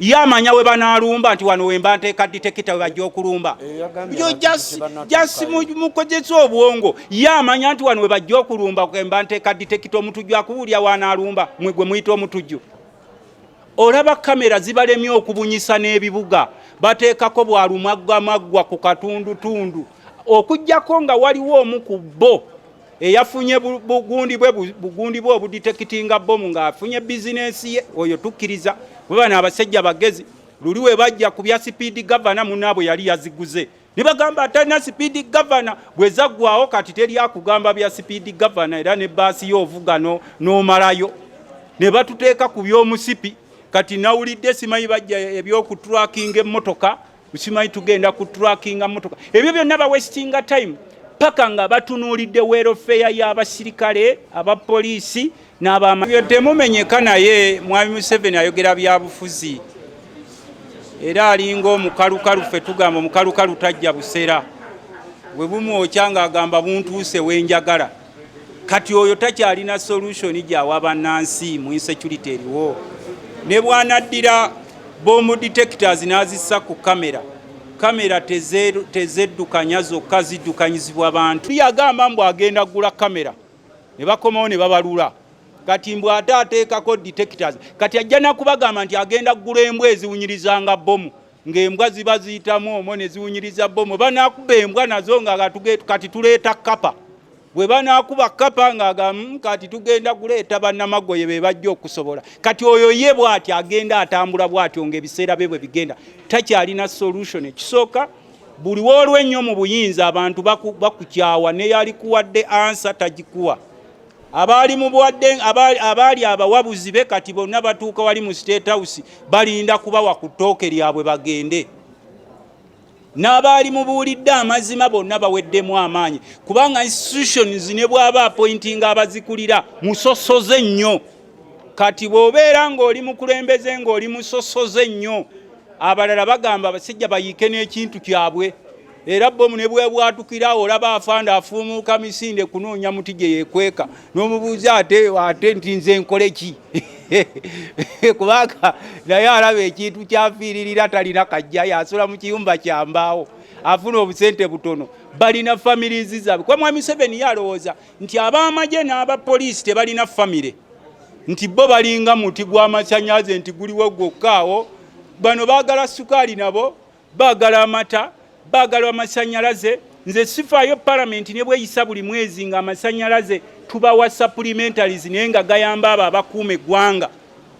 ye amanya we banalumba nti wano wemba nteeka ditekita we bajja okulumba yo jasi mukozesa obwongo ye amanya nti wano we bajja okulumba kemba nteeka ditekita omutujju akuwulya wanalumba mwe gwe muyita omutujju olaba kamera zibalemye okubunyisa n'ebibuga bateekako bwalumagwamaggwa ku katundutundu okujjako nga waliwo omu ku bo eyafunye bugundi bwe bugundi bwe obuditekitinga bomu ng'afunye bizinensi ye oyo tukkiriza baba n'abasajja bagezi luli we bajja ku bya sipiidi gavana munaabwe yali yaziguze ne bagamba atalina sipiidi gavana bwe zaggwawo kati teri akugamba bya sipiidi gavana era ne baasi yo ovuga n'omalayo ne batuteeka ku by'omusipi kati nawulidde simanyi bajja ebyokuturakinga emmotoka ukimanyi tugenda ku trackinga motoka ebyo byonna ba westinga time paka nga batunuulidde welfare y'abasirikale abapoliisi n'abamabyo temumenyeka naye mwami museveni ayogera byabufuzi era alinga omukalukalu ffe tugamba omukalukalu tajja busera bwe bumwokya ng'agamba buntuuse wenjagala kati oyo takyalina solution gyawa bannansi mu insecurity eriwo ne bwanaddira bomu detectors n'azissa ku kamera kamera tezeddukanya zokka ziddukanyizibwa bantu yagamba mbu agenda kugula kamera ne bakomawo ne babalula kati mbw ate ateekako detectors kati ajja nakubagamba nti agenda kugula embwa eziwunyirizanga bomu ng'embwa ziba ziyitamu omwo ne ziwunyiriza bbomu banaakuba embwa nazo nga kati tuleeta kkapa bwe banaakuba kkapa ng'agamu hmm, kati tugenda kuleeta bannamagoye be bajja okusobola kati oyo ye bw'ati agenda atambula bw'atyo ng'ebiseera bye bwe bigenda takyalina solution ekisooka buli w'olwa ennyo mu buyinza abantu bakukyawa neyalikuwadde ansa tagikuwa abaali mubuwadde abaali abawabuzi be kati bonna batuuka wali mu state house balinda kubawa ku ttooke lyabwe bagende n'abaali mubuulidde amazima bonna baweddemu amaanyi kubanga institutions ne bwaba apointinga abazikulira musosoze nnyo kati bw'obeera ng'oli mukulembeze ng'oli musosoze nnyo abalala bagamba basajja bayiike n'ekintu kyabwe era bomu ne bwebwatukira awo olaba afanda afuumuuka misinde kunoonya muti gye yekweka n'omubuuza ate ate nti nze nkole ki kubanga naye alaba ekintu kyafiiririra talina kajja yasula mu kiyumba kyambaawo afuna obusente butono balina famirizi zaabwe kuba mwami museveni yalowooza nti ab'amagye n'abapoliisi tebalina famire nti bo balinga muti gw'amasanyaze nti guliwo gwokkaawo bano baagala sukaali nabo Baagala amata, baagala amasannyalaze. Nze sifaayo palamenti ne bweyisa buli mwezi nga amasannyalaze tubawa supplementaries naye nga gayamba abo abakuuma eggwanga.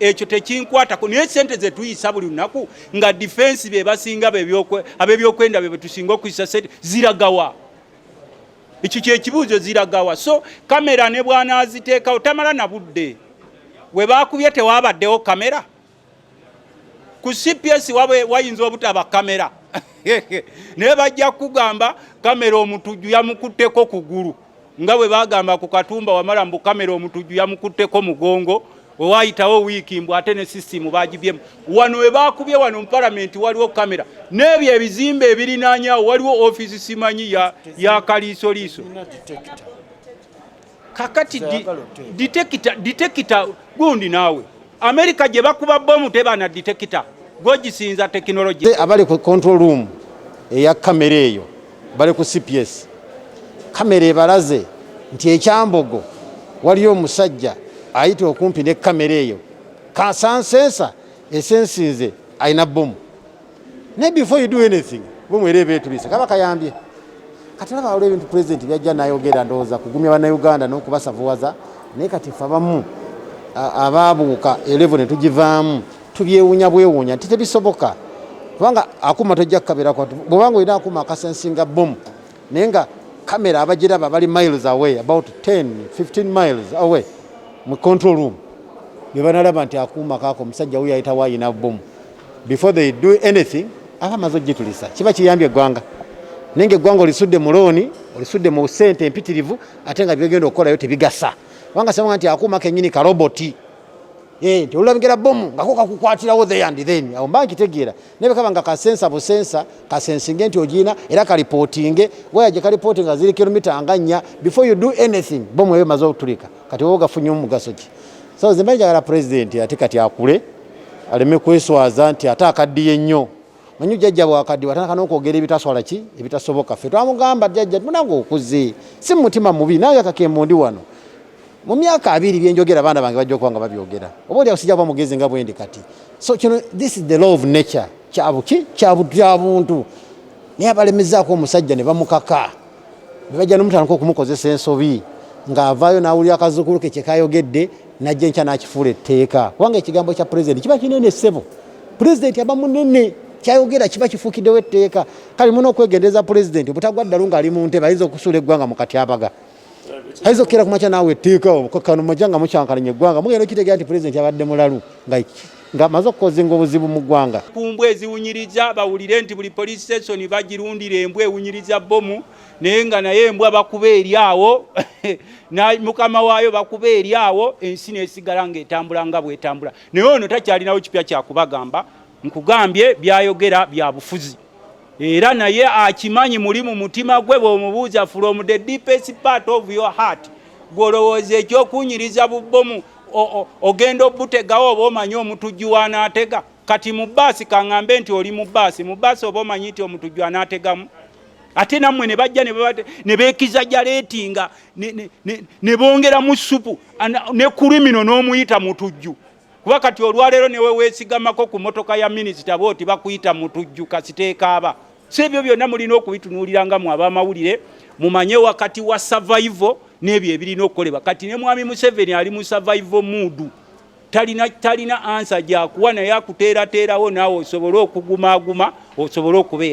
Ekyo tekinkwatako naye sente ze tuyisa buli lunaku nga difensi be basinga ab'ebyokwenda be betusinga okuyisa sente ziragawa? Ekyo kyekibuuzo ziragawa? So kamera ne bwanaaziteekawo tamala na budde. We baakubye tewaabaddewo kamera? ku cps wabe wayinza obutaba kamera naye bajja kugamba kamera omutujju yamukutteko kugulu nga bwe bagamba ku katumba wamala mbu kamera omutujju yamukutteko mugongo wewayitawo wiiki mbu ate ne sisitimu bagibyemu wano webakubye wano mupalamenti waliwo kamera n'ebyo ebizimba ebirinanyawo waliwo ofiisi simanyi ya, ya kaliisoliiso kakati ditekita ditekita gundi naawe amerika gye bakuba bomu tebana ditekita gwogisinza tekinologi abali ku control room eya kamera eyo bali ku cps kamera ebalaze nti ekyambogo waliyo omusajja ayita okumpi ne kamera eyo kasansensa esensinze alina bomu naye before you do anything bwemwera ebetubise kaba kayambye kati olaba waliwo ebintu pulezidenti byajja nayogera ndowooza kugumya bannayuganda n'okubasavuwaza naye kati fe abamu abaabuuka elevo ne tugivaamu tubyewuunya bwewuunya nti tebisoboka kubanga akuuma tojja kukabeerako bwobanga olina akuuma akasensinga bomu naye nga kamera abagiraba bali miles away about 10 15 miles away mu control room bebanalaba nti akuuma kaako omusajja wuyo ayitawo ayina bomu before they do anything aba amaze okugitulisa kiba kiyambye eggwanga naye nga eggwanga olisudde mu looni olisudde mu sente empitirivu ate nga byegenda okukolayo tebigasa kubanga sabanga nti akuuma kenyini karoboti eh, nti olulabigera bomu ngako kakukwatirawo the and then awo mba nkitegeera naye bwekaba nga kasensa busensa kasensinge nti ogiina era kalipootinge waya gye kalipootinga ziri kilomita nga nnya before you do anything bomu eyo emaze okutulika kati oba gafunye omugaso ki so nze mba njagala pulezidenti ate kati akule aleme kweswaza nti ate akaddiye nnyo manyi jjajja bwakaddiwa atandika n'okwogera ebitaswala ki ebitasoboka ffe twamugamba jjajja munange okuze si mu mutima mubi nange kakembo ndi wano mu myaka abiri byenjogera abaana bange bajja okuba nga babyogera oba oli akusijja kuba mugezi nga bwendi kati so kino this is the law of nature kyabuki kyabuntu naye abalemezaako omusajja ne bamukaka ne bajja nomutandika okumukozesa ensobi ng'avaayo n'awulira akazuukulu ke kye kayogedde n'ajja enkya n'akifuula etteeka kubanga ekigambo kya pulezidenti kiba kinene ssebo pulezidenti aba munene kyayogera kiba kifuukiddewo etteeka kale muna okwegendereza pulezidenti obutagwa ddalu ng'ali mu ntebe ayinza okusuula eggwanga mu katyabaga ayinza okukeera ku makya naawe etteeka obukakkano mujja nga mukyankalanya eggwanga mugenda okitegeera nti pulezidenti abadde mulalu nga ng'amaze okukozinga obuzibu mu ggwanga ku mbwa eziwunyiriza bawulire nti buli police station bagirundira embwa ewunyiriza bbomu naye nga naye embwa bakuba eri awo mukama waayo bakuba eri awo ensi nesigala ng'etambula nga bwetambula naye ono takyalinawo kipya kyakubagamba nkugambye byayogera bya bufuzi era naye akimanyi muli mu mutima gwe bw'omubuuza from the deepest part of your heart gw'olowooza ekyokunyiriza bubbomu ogenda obutegawo oba omanyi omutujju wanaatega kati mu bbaasi kaŋŋambe nti oli mu bbaasi mu bbaasi oba omanyi nti omutujju anaategamu ate nammwe ne bajja ne beekiza jaleetinga ne bongeramu ssupu ne kulimino n'omuyita mutujju kuba kati olwaleero newe weesigamako ku motoka ya minisita booti bakuyita mutujju kasiteekaaba so ebyo byonna mulina okubitunuulira nga mwe abamawulire mumanye wakati wa survival n'ebyo ebirina okukolebwa kati ne mwami museveni ali mu survival muudu talina talina ansa gyakuwa naye akuteerateerawo naawe osobole okugumaaguma osobole okubeera